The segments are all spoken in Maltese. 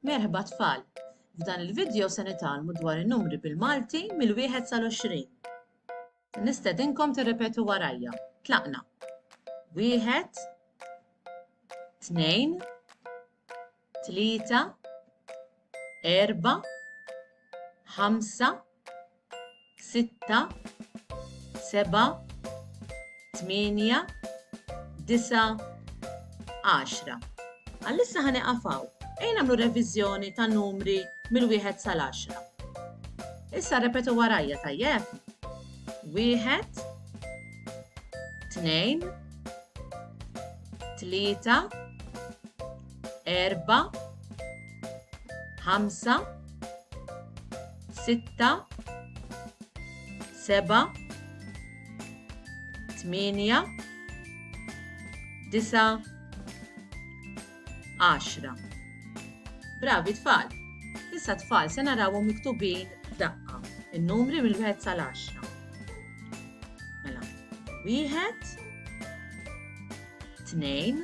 Merħba tfal! F'dan il-vidjo se nitgħallmu dwar in-numri bil-Malti mill-wieħed sal-għoxrin. Nistedinkom tirrepetu warajja. Tlaqna. Wieħed, tnejn, tlieta, erba, ħamsa, sitta, seba, tmienja, disa, għaxra. Għallissa ħani għafaw, ejn għamlu revizjoni ta' numri mill-wieħed sal-għaxra. Issa repetu warajja tajjeb. Wieħed, tnejn, tlieta, erba, ħamsa, sitta, seba, tminja, disa, għaxra. Bravi tfal! Issa tfal se narawhom miktubin daqqa, in-numri mill-wieħed sal-għaxra. Mela, wieħed, tnejn,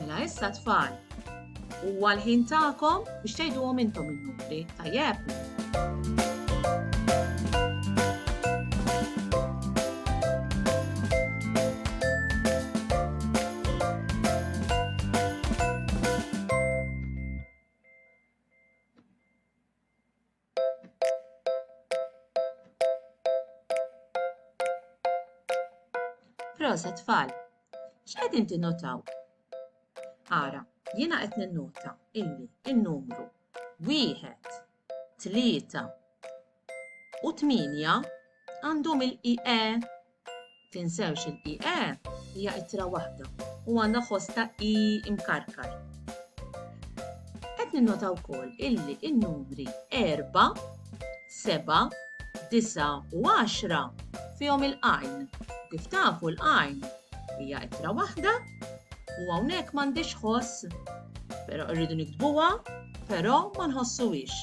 Mela issa tfal, huwa l-ħin tagħkom biex tgħiduhom intom in-numri, tajjeb? Proset tfal! X'qegħdin tinnotaw? Ara, jiena qed ninnota illi n-numru wieħed, tlieta u tmienja għandhom il-IE Tinsewx il i e hija ittra waħda u għandha ħoss ta' i imkarkar. Qed ninnota wkoll illi n-numri 4, 7, 9 u 10 fihom il-qajn. Kif tafu l-qajn hija ittra waħda u hawnhekk m'għandhiex ħoss, però rridu nikdbuha, però ma nħossuhiex.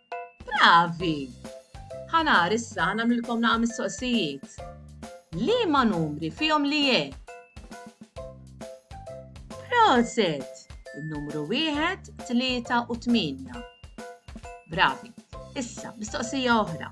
Bravi! Ħanar issa nagħmlilkom naqa' mistoqsijiet. Liema numri fihom li je? Proset! Il-numru wieħed, tlieta u tmienja. Bravi. Issa, mistoqsija oħra.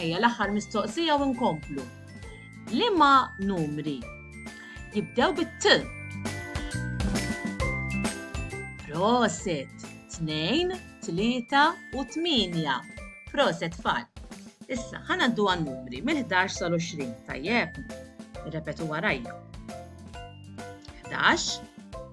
Ejja l-aħħar mistoqsija u nkomplu. Liema numri jibdew bit-T? Proset! Tnejn, tlieta u tminja. Proset tfal. Issa, ħana għaddu għan-numri mill-11 sal-20, tajjeb? Irrepetu warajja. 11,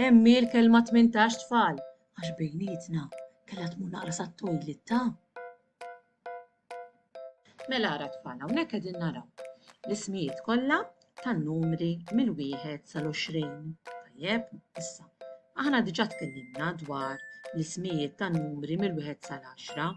Hemm hi l-kelma tmintax tfal għax bejnietna kellha tmur naqra sat-toilet ta'. Mela ara tfal hawnhekk qegħdin naraw l-ismijiet kollha tan-numri mill-wieħed sal-20. Tajjeb, issa. Aħna diġà tkellimna dwar l-ismijiet tan-numri mill-wieħed sal-10.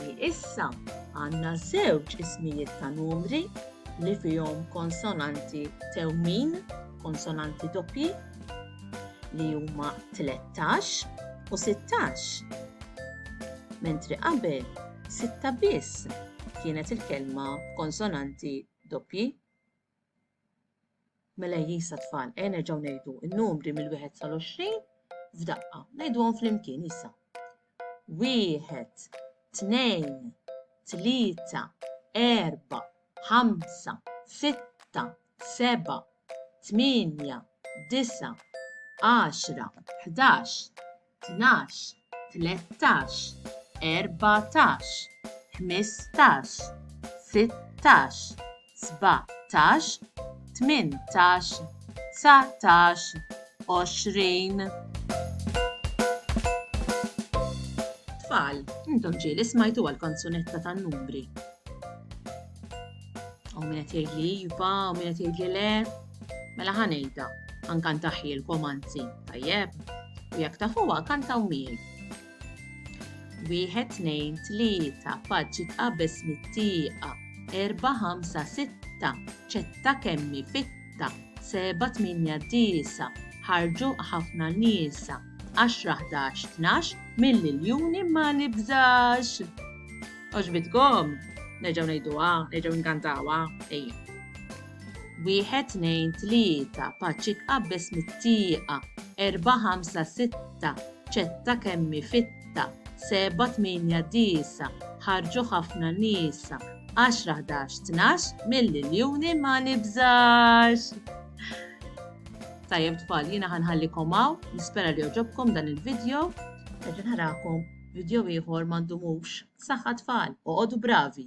li issa għandna żewġ ismijiet ta' numri li fihom konsonanti tewmin, konsonanti doppji, li huma 13 u 16. Mentri qabel, sitta biss kienet il-kelma konsonanti doppji. Mela jisa tfal, ejja nerġgħu ngħidu n-numri mill-wieħed sal-20 f'daqqa. Ngħiduhom flimkien issa. Wieħed, tnejn, tlieta, erba, ħamsa, sitta, seba, tmienja, disa, għaxra, ħdax, tnax, tlettax, erbatax, ħmistax, sittax, sbatax, tmintax, dsatax, għoxrin. Tfal, intom ġieli smajtuha l-kanzunetta tan-numri. U min qed jgħidli iva, u min qed jgħidli le. Mela ħa ngħidha, nkantaħilkom anzi, tajjeb? U jekk tafuha kantaw miegħi. Wieħed tnejn tlieta faċċi tqabeż mit-tieqa, erba' ħamsa sitta, ċetta kemmi fitta, seba' tminja disa, ħarġu ħafna nisa, għaxra ħdax tnax, mill-iljuni ma nibżax. Oġbitkom, neġaw nejduwa, neġaw nkantawa, ejja. Wieħed tnejn tlieta paċi tqabbeż mit-tieqa, erba' ħamsa sitta ċetta kemm hi fitta, sebgħa tmienja disa' ħarġu ħafna nisa, għaxra ħdax tnax mill-iljuni ma nibżax! Tajjeb tfal, jiena ħanħallikom hawn, nispera li jogħġobkom dan il-video. Nerġa' narakom video ieħor m'għandumux. Saħħa tfal, oqogħdu bravi!